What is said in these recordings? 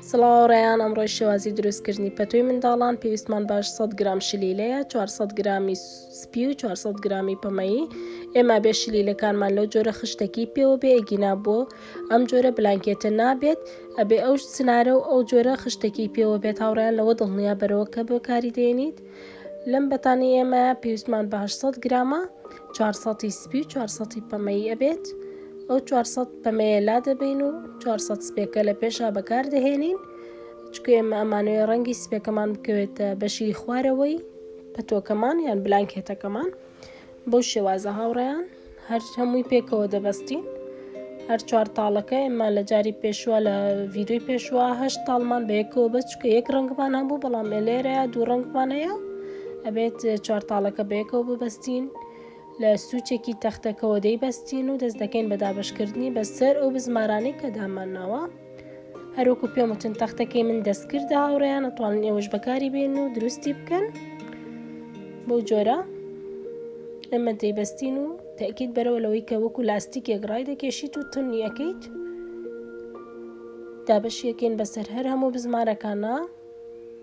سڵاو ڕێیان ئەمڕۆی شێوازی دروستکردنی پەتوی منداڵان پێویستمان باش 100 گرام شلیلەیە 400 گرامی سپی و 400 گرامی پەمەیی ئێمە بێ شلیلەکانمان لەو جۆرە خشتەکی پێوە بێ ئەگینا بۆ ئەم جۆرە بلانکێتە نابێت ئەبێ ئەو سنارە و ئەو جۆرە خشتەکی پێوە بێت هاوڕیان لەوە دڵنیا بەرەوە کە بەکاری دێنیت لەم بەتانەی ئێمە پێویستمان بە هەشت سەد گرامە چوار سەدی سپی و چوار سەدی پەمەیی ئەبێت ئەو چوار سەد پەمەیە لادەبەین و چوار سەد سپێکە لە پێشا بەکاردەهێنین چکە ئێمە ئەمانەوەی ڕەنگی سپێکەمان بکەوێتە بەشی خوارەوەی پەتۆکەمان یان بلانکێتەکەمان بەو شێوازە هاوڕێیان هەر هەمووی پێکەوە دەبەستین هەر چوار تاڵەکە ئێمە لە جاری پێشوە لە ڤیددیوی پێشوە هەشت تاڵمان بەیەکەوە بەس چکە یەک ڕنگمان هەبوو بەڵام ئەلێرەیە دوو ڕنگمانەیە ئەبێت چوار تاڵەکە بەیەکەوە ببەستین لە سوچێکی تەختەکەەوە دەیبەستین و دەست دەکەین بە دابشکردنی بەسەر ئەو بزمارانەی کە دامانناوە هەروەکو پێم وتن تەختەکەی من دەستکردە هاوڕێیان ئەتوانن ئێوەش بەکاری بێن و دروستی بکەن بەو جۆرە ئەمە دەیبەستین و تاکیت بەرەوە لەوەی کە وەکو لاستیکێک ڕای دەکێشیت و تونی ئەەکەیت دابەشیەکەین بەسەر هەر هەموو بزمارەکانە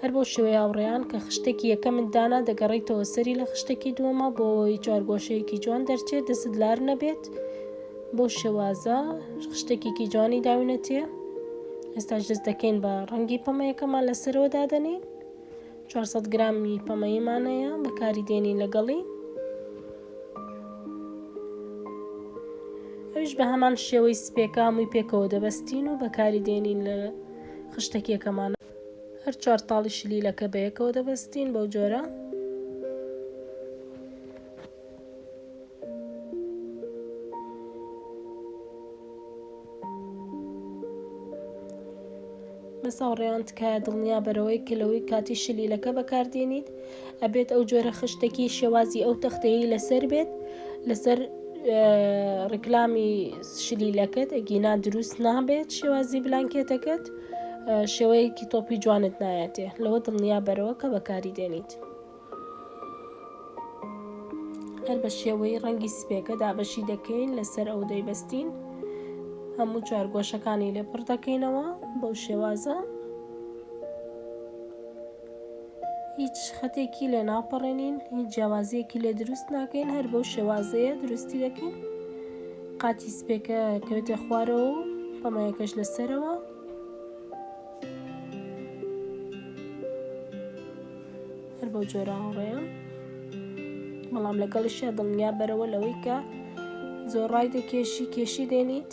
هەر بەو شێوەیە ئاوڕیان کە خشتەکی یەکەمت دانا دەگەڕیتەوە سەری لە خشتەکی دووەما بۆ ئەوەی چوارگۆشەیەکی جوان دەرچێت دەستت لار نەبێت بەو شێوازە خشتەکێکی جوانی داوینەتێ ئێستاش دەست دەکەین بە ڕەنگی پەمەیەکەمان لەسەرەوە دادەنین 400 گرامی پەمەیمانەیە بەکاری دێنین لەگەڵی ئەوش بە هەمان شێوەی سپێکە هەمووی پێکەوە دەبەستین و بەکاری دێنین لە خشتەکیەکەمانە هەر چوار تاڵی شلیلەکە بەیەکەوە دەبەستین بەو جۆرە. بەساوڕێیان تکایە دڵنیا بەرەوەی کە لەوەی کاتی شلیلەکە بەکاردێنیت ئەبێت ئەو جۆرە خشتێکی شێوازی ئەو تەختەیە لەسەر بێت لەسەر ڕیکلامی شلیلەکەت ئەگینا دروست نابێت شێوازی بلانکێتەکەت شێوەیەکی تۆپی جوانت نایەتێ لەوە دڵنیا بەرەوە کە بەکاری دێنیت هەر بە شێوەی ڕەنگی سپێکە دابەشی دەکەین لەسەر ئەو دەیبەستین هەموو چوار گۆشەکانی لێپڕ دەکەینەوە بەو شێوازە هیچ خەتێکی لێ ناپەڕێنین هیچ جیاوازیەکی لێ دروست ناکەین هەر بەو شێوازەیە دروستی دەکەین قاتی سپێکە کەوتە خوارەوە و پەمەیەکەش لەسەرەوە هەر بەو جۆرە هەڵڕێە بەڵام لەگەڵیشە دڵنیا بەرەوە لەوەی کە زۆر ڕای دەکێشی کێشی دێنیت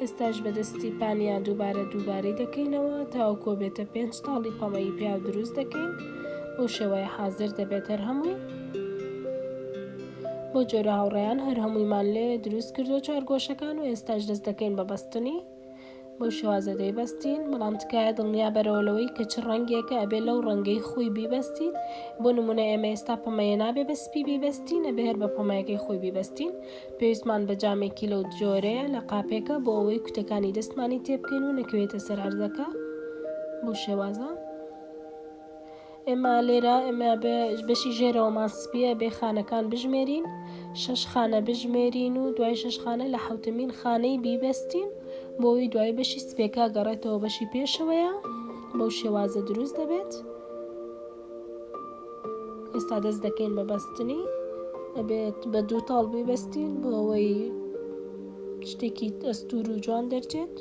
ئێستاش بە دەستی پانیا دووبارە دووبارەی دەکەینەوە تاوەکۆ بێتە پێنج تاڵی پەمەیی پیاو دروست دەکەین بۆ شێوەیە حازر دەبێت هەر هەمووی بۆ جۆرە هاوڕێیان هەر هەموویمان لێ دروست کردو چوار گۆشەکان و ئێستاش دەست دەکەین بە بەستنی بۆ شێوازە دەیبەستین بەڵام تکایە دڵنیا بەرەوە لەوەی کە چ ڕەنگێکە ئەبێ لەو ڕەنگەی خۆی بیبەستیت بۆ نمونە ئێمە ئێستا پەمەیە نابێ بە سپی بیبەستین ئەبێ هەر بە پەمەیەکەی خۆی بیبەستین پێویستمان بە جامێکی لەو جۆرەیە لە قاپێکە بۆ ئەوەی کوتەکانی دەستمانی تێبکەین و نەکەوێتە سەر عەرزەکە بۆ شێوازە ئێمە لێرە ئێمە بەشی ژێرەوەمان سپیە بێ خانەکان بژمێرین شش خانە بژمێرین و دوای شش خانە لە حوتمین خانەی بیبەستین بۆی دوای بەشی سپێکا گەڕێتەوە بەشی پێشەوەیە بەو شێوازە دروست دەبێت. ئێستا دەست دەکەین بە بەستنی ئەبێت بە دوو تاڵ ببەستین بۆ ئەوەی شتێکی ئەستور و جوان دەرچێت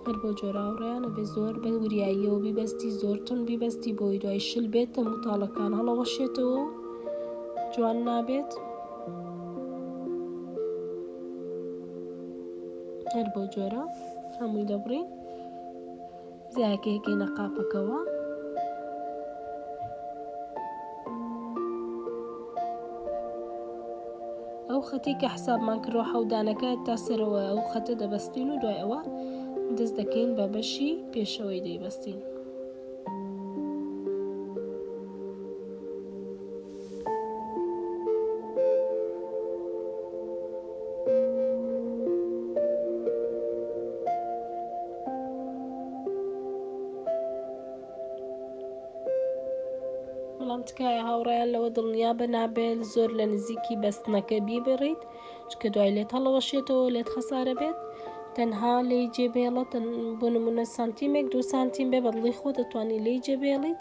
هەر بۆ جۆراوڕیانە بێ زۆر بە وریاییەوە بیبەستی زۆر تون بیبەستی بۆی دوای شل بێت تە متاڵەکان هەڵەوەشێتەوە جوان نابێت هەر بۆ جۆرە هەمووی دەبڕین زیایەکەی ئەکەینە قاپەکەوە. ئەو خەتی کە حسابمان کردوە حەودانەکە تا سەرەوە ئەو خەتە دەبەستین و دوای ئەوە دەست دەکەین بە بەشی پێشەوەی دەیبەستین. بەڵام تکایە هاوڕێیان لەوە دڵنیا بە نابێت زۆر لە نزیکی بەستنەکە بیبڕیت چکە دوای لێت هەڵەوەشێتەوە لێت خەسارە بێت تەنها لی جێبێڵە بۆ نمونە سانتیمێک دو سانتیم بێ بەدڵی خۆ دەتوانی لی جێبێڵیت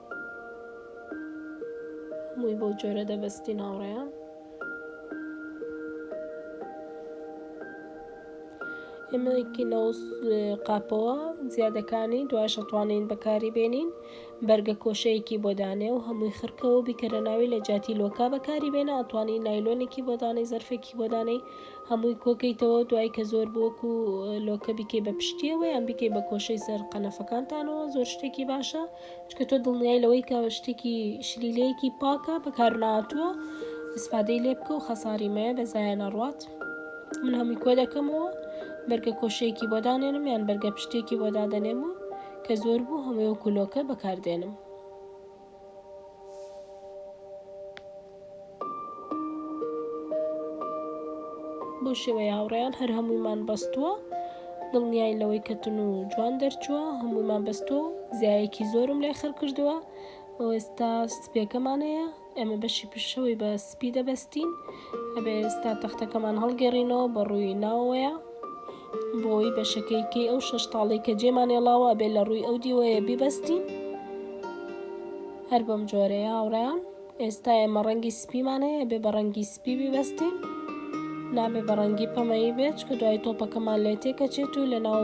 هەمووی بەو جۆرە دەبەستی ناوڕێیان ئێمەکی لەو قاپەوە زیادەکانی دوایش ئەتوانین بەکاری بێنین بەرگە کۆشەیەکی بۆدانێ و هەمووی خرکەوە بیکەرە ناوی لە جاتی لۆکا بەکاری بێنە ئەتوانی نایلۆنێکی بۆدانەی زەرفێکی بۆدانەی هەمووی کۆکەیتەوە دوای کە زۆر بۆک و لۆکە بیکەی بە پشتیەوە یان بیکەی بە کۆشەی سەر قەنەفەکانتانەوە زۆر شتێکی باشە چونکە تۆ دڵنیای لەوەی کە شتێکی شلیلەیەکی پاکە بەکارناتووە ئیسفادەی لێ بکە و خەساری مەیە بە زایە نەڕوات من هەمووی کۆ دەکەمەوە بەرگە کۆشەیەکی بۆ دانێنم یان بەرگە پشتێکی بۆ دادەنێم و کە زۆر بوو هەموو کولۆکە بەکاردێنم بەو شێوەیە هاوڕێیان هەر هەموویمان بەستووە دڵنیاین لەوەی کە تون و جوان دەرچووە هەموویمان بەستووە و زیایەکی زۆرم لای خەر کردووە ئێستا سپێکەمانەیە ئێمە بەشی پشەوەی بە سپی دەبەستین ئەبێ ئێستا تەختەکەمان هەڵگەڕینەوە بە ڕووی ناوەیە بۆی بەشەکەیکەی ئەو شەش تاڵی کە جێمانێڵاوە بێ لە ڕووی ئەو دیوەیە بیبەستین هەر بەم جۆرەیە هاوڕیان ئێستا ئێمە ڕەنگی سپیمان هەیە ئەبێ بە ڕەنگی سپی بیبەستین نابێ بە ڕەنگی پەمەیی بێت چکە دوای تۆپەکەمان لێ تێکەچێت و لە ناو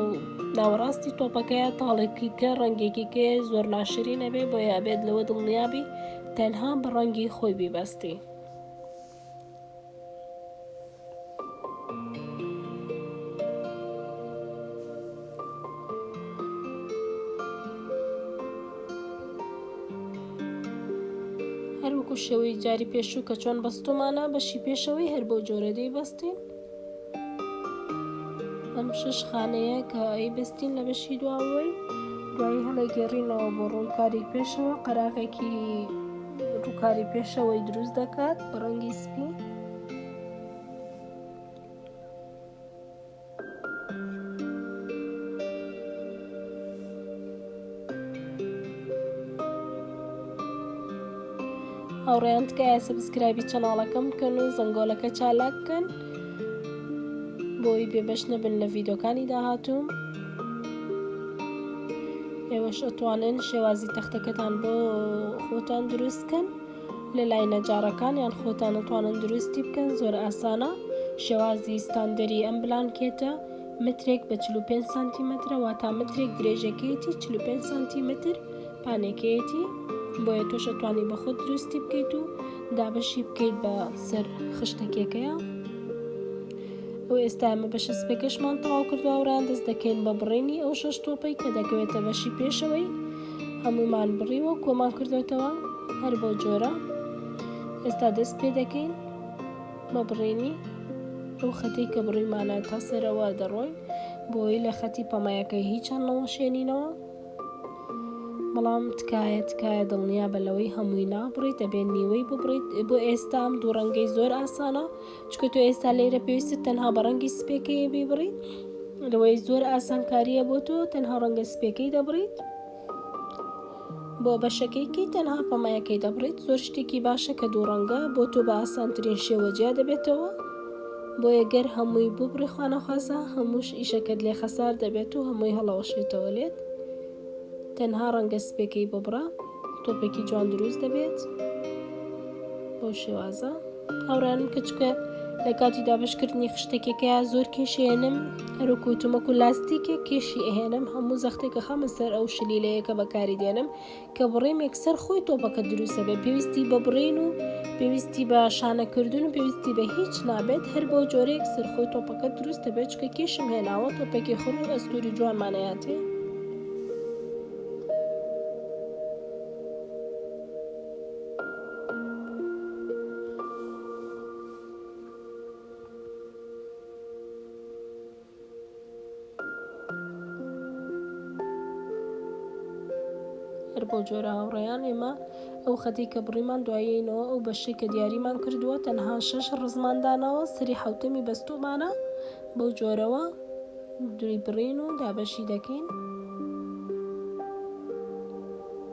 ناوەڕاستی تۆپەکەیە تاڵێکی کە ڕەنگێکی کێ زۆر ناشرینە بێ بۆ یابێت لەوە دڵنیابی تەنها بە ڕەنگی خۆی بیبەستی هەروەکو شێوەی جاری پێشوو کە چۆن بەستۆمانە بەشی پێشەوەی هەر بەو جۆرە دەیبەستین ئەم شەش خانەیە کە ئەیبەستین لە بەشی دواوەی دوایی هەڵەگەڕینەوە بۆ ڕووکاری پێشەوە قەراغێکی ڕووکاری پێشەوەی دروست دەکات بە ڕەنگی سپی هاوڕێیان تکایە سبسکرایبی چەناڵەکەم بکەن و زەنگۆلەکە چالاک بکەن بۆی بێبەش نەبن لە ڤیدۆکانی داهاتوو ئێوەش ئەتوانن شێوازی تەختەکەتان بۆ خۆتان دروستکەن لە لای نەجارەکان یان خۆتان ئەتوانن دروستی بکەن زۆر ئاسانە شێوازی ستاندەری ئەم بلانکێتە مترێک بە چل و پێنج سانتیمەترە واتا مترێک درێژەکەیەتی چل و پێنج سانتیمەتر پانێکەیەتی بۆیە تۆش ئەتوانی بە خۆت دروستی بکەیت و دابەشی بکەیت بە سەر خشتەکێکەیە و ئێستا ئەمە بەشە سپێکەشمان تەواو کردووە وڕان دەست دەکەین بە بڕینی ئەو شەش تۆپەی کە دەکەوێتە بەشی پێشەوەی هەمومان بڕیوە کۆمان کردوێتەوە هەر بۆ جۆرە ئێستا دەست پێ دەکەین بە بڕینی ئەو خەتەی کە بڕیمانە تا سەرەوە دەڕۆین بۆی لە خەتی پەمەیەکەی هیچان نەوەشێنینەوە بەڵام تکایە تکایە دڵنیا بە لەوەی هەمووی نابڕیت دەبێت نیوەی ببڕیت بۆ ئێستا ئەم دوو ڕەنگەی زۆر ئاسانە چکە تۆ ئێستا لێرە پێویستە تەنها بە ڕەنگی سپێکەیە بیبڕیت لەوەی زۆر ئاسانکاریە بۆ تۆ تەنها ڕەنگە سپێکەی دەبڕیت بۆ بەشەکەی کەی تەنها پەمەیەکەی دەبڕیت زۆر شتێکی باشە کە دوو ڕەنگە بۆ تۆ بە ئاسانترین شێوە جیا دەبێتەوە بۆیە گەر هەمووی ببڕی خوانەخوازە هەمووش ئیشەکەت لێ خەسار دەبێت و هەمووی هەڵەوەشێتەوە لێت تەنها ڕەنگە سپێکەی ببڕە تۆپێکی جوان دروست دەبێت بەو شێوازە. هاوڕێیانم کە چکە لە کاتی دابشکردنی خشتەکێکە زۆر کێشێنم هەروکو وتومەکو لاستیکە کێشی ئەهێنم هەموو زەختێکە خەمە سەر ئەو شلیلەیە کە بەکاری دێنم کە بڕێمێک سەر خۆی تۆپەکە دروستە بێ پێویستی بە بڕین و پێویستی بە شانەکردن و پێویستی بە هیچ نابێت هەر بۆ جۆرێک سەرخۆی تۆپەکە دروستە بێت چکە کێشم هێناوە تۆپێکی خڕ و ئەستوری جوانمانەیاتێ هەر بۆ جۆرە هاوڕێیان ئێمە ئەو خەتی کە بڕیمان دوایەینەوە ئەو بەشی کە دیاریمان کردووە تەنها شەش ڕزماندانەوە سری حوتەمی بەستومانە بەو جۆرەوە دوی بڕین و دابەشی دەکەین.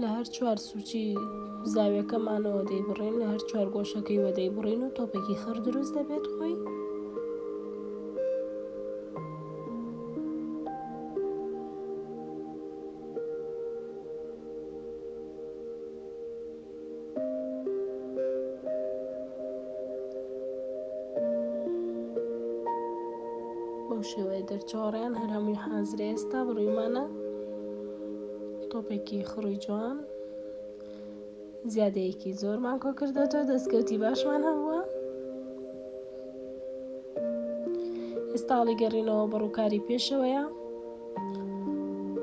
لە هەر چوار سووچی زاویەکەمانەوە دەیبڕین لە هەر چوار گۆشەکەی وە دەیبڕین و تۆپێکی خڕ دروست دەبێت خۆی بەو شێوەیە دەرچۆڕیان هەر هەمووی حازرە ئێستا بڕیمانە تۆپێکی خڕی جوان زیادەیەکی زۆرمان کۆکردەوە دەستکەوتی باشمان هەبووە ئێستاڵی گەڕینەوە بەڕووکاری پێشەوەیە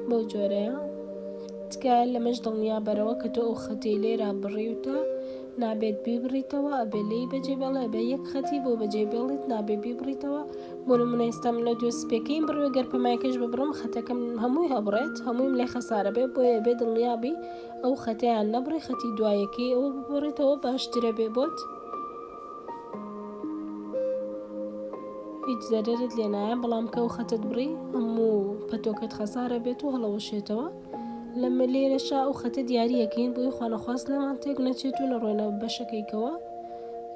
بەو جۆرەیە تکایە لەمەش دڵنیا بەرەوە کە تۆ ئەو خەتەی لێرا بڕیوتە نابێت بیبڕیتەوە ئەبێ لێی بەجێ بێڵێ بە یەک خەتی بۆ بەجێ بێڵیت نابێ بیبڕیتەوە بۆ نمونە ئێستا من لە دوێ سپێکەیم بڕوێ گەر پەمایکەش ببڕم خەتەکەم هەمووی هەبڕێت هەموویم لێ خەسارە بێ بۆیە بێ دڵنیابی ئەو خەتەیان نەبڕی خەتی دوایەکەی ئەوە ببڕیتەوە باشترە بێ بۆت هیچ زەرەرت لێ نایە بەڵام کە و خەتت بڕی هەموو پەتۆکەت خەسارە بێت و هەڵەوەشێتەوە لەمە لێرەشا ئەو خەتە دیارریەکەین بۆی خانەخواست نەمان تێک نەچێت و نەڕۆێنە بەشەکەیکەوە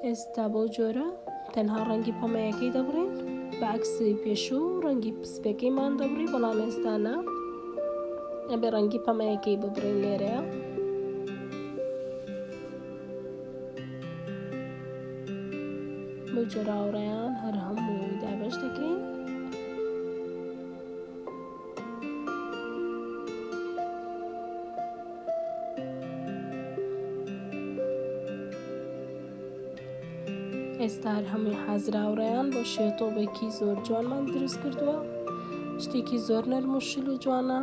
ئێستا بەو جۆرە تەنها ڕەنگی پەمەیەکەی دەبڕین بەعکسی پێشوو ڕەنگی پسپەکەیمان دەبڕی بەڵام ئێستانە ئەبێ ڕەنگی پەمەیەکەی ببڕین لێرەیە بەو جۆراوڕێیان هەر هەموو دابش دەکەین ئێستار هەمووی حازراوڕێیان بۆ شێتۆبێکی زۆر جوانمان دروست کردووە شتێکی زۆر نەرم و شل و جوانە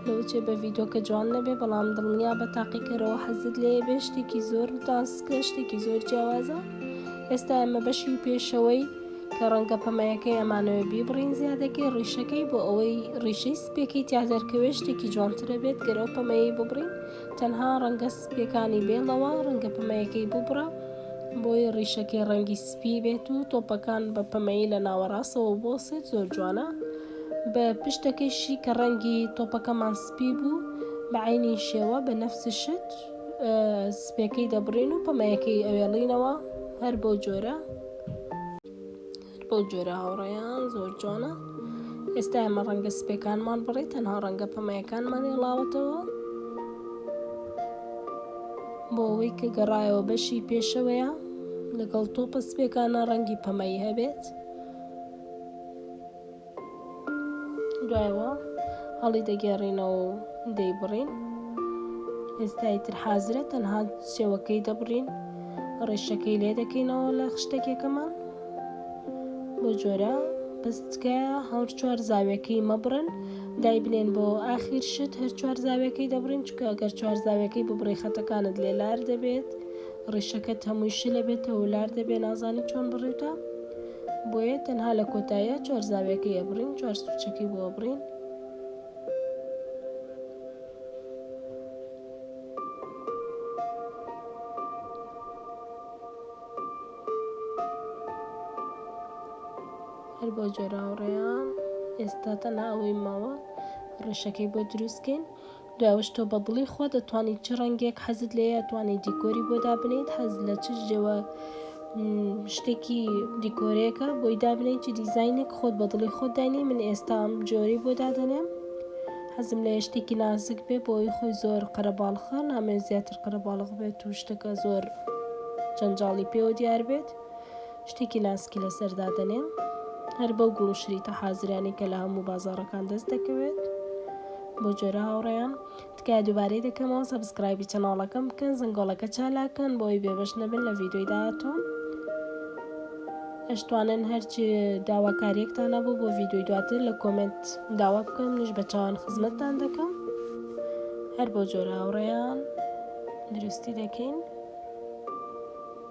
لەوچێ بە ڤیدۆکە جوان نەبێ بەڵام دڵنیا بە تاقیکەرەوە حەزت لێ بێ شتێکی زۆر تاسکە شتێکی زۆر جیاوازە ئێستا ئەمە بەشی پێشەوەی کە ڕەنگە پەمەیەکەی ئەمانەوە بیبڕین زیادەکەی ڕیشەکەی بۆ ئەوەی ڕیشەی سپێکی تیادەرکەوێ شتێکی جوانترە بێت گەرەو پەمەیەی ببڕین تەنها ڕەنگە سپێکانی بێڵەوە ڕەنگە پەمەیەکەی ببڕە بۆی ڕیشەکەی ڕەنگی سپی بێت و تۆپەکان بە پەمەیی لە ناوەڕاستەوە بۆ سێت زۆر جوانە بە پشتەکەیشی کە ڕەنگی تۆپەکەمان سپی بوو، بە عەینی شێوە، بە نەفس شت، سپێکەی دەبڕین و پەمەیەکەی ئەوێڵینەوە، هەر بەو جۆرە، هەر بەو جۆرە هاوڕێیان، زۆر جوانە، ئێستا ئێمە ڕەنگە سپێکانمان بڕی، تەنها ڕەنگە پەمەیەکانمان هێڵاوەتەوە، بۆ ئەوەی کە گەڕایەوە بەشی پێشەوەیە، لەگەڵ تۆپە سپێکانە ڕەنگی پەمەیی هەبێت. دوایەوە هەڵی دەگێڕینەوە و دەیبڕین ئێستای تر حازرە تەنها سێوەکەی دەبڕین ڕێشەکەی لێ دەکەینەوە لە خشتەکێکەمان بۆ جۆرە بەستکایە هەور چوار زاوێکەی مەبڕن دایبنێن بۆ ئاخیر شت هەر چوار زاوێکەی دەبڕین چکە گەر چوار زاوێکەی ببڕی خەتەکانت لێ لار دەبێت ڕیشەکەت هەمووی شلە بێتەوە لار دەبێ نازانی چۆن بڕیتە بۆیە تەنها لە کۆتاییا چوار زاویەکەی ئەبڕین چوار سوچەکەی بۆ ئەبڕین هەر بۆ جۆراوڕێیان ئێستا تەنها ئەوەی ماوە ڕێشەکەی بۆ دروستکەین دوایەوەش تۆ بە دڵی خۆت ئەتوانیت چ ڕەنگێک حەزت لێیە ئەتوانیت دیکۆری بۆ دابنێیت حەز لە چ جۆە شتێکی دیکۆرەیەکە بۆی دابنێیت چ دیزینێک خۆت بە دڵی خۆت داینی من ئێستا ئەم جۆری بۆ دادەنێم حەزم لە شتێکی نازک بێ بۆی خۆی زۆر قەرەباڵخە نامێ زیاتر قەرەباڵغ بێت و شتەکە زۆر جەنجاڵی پێوە دیار بێت شتێکی ناسکی لەسەر دادەنێم هەر بەو گوڵ و شریتە حازرانی کە لە هەموو بازارەکان دەست دەکەوێت بۆ جۆرە هاوڕێیان تکای دووبارەی دەکەمەوە سەبسکرایبی چەناڵەکەم بکەن زنگۆڵەکە چالاکەن بۆی بێبەش نەبن لە ڤیددیۆی داهاتوو ئەشتوانن هەرچی داواکاریەکتان نەبوو بۆ ڤیددیۆی دواتر لە کۆمنت داوا بکەم نیش بە چاوان خزمەتتان دەکەم هەر بۆ جۆرە هاوڕێیان دروستی دەکەین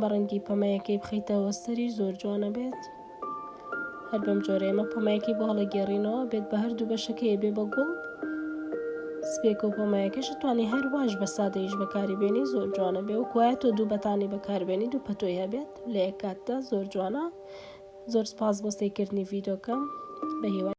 بە ڕەنگی پەمەیەکەی بخەیتەوە سەریش زۆر جوان ئەبێت هەر بەم جۆرە ئێمە پەمەیەکەی بۆ هەڵەگێڕینەوە بێت بە هەردوو بەشەکەی بێ بە گوڵ سپێکە و پەمەیەکەش توانی هەر واش بە سادەیش بەکاری بێنی زۆر جوانە بێ و کوایە تۆ دوو بەتانی بەکاربێنی دوو پەتۆی هەبێت لە یەک کاتدا زۆر جوانە زۆر سپاس بۆ سەیکردنی ڤیدۆکەم بە هیوای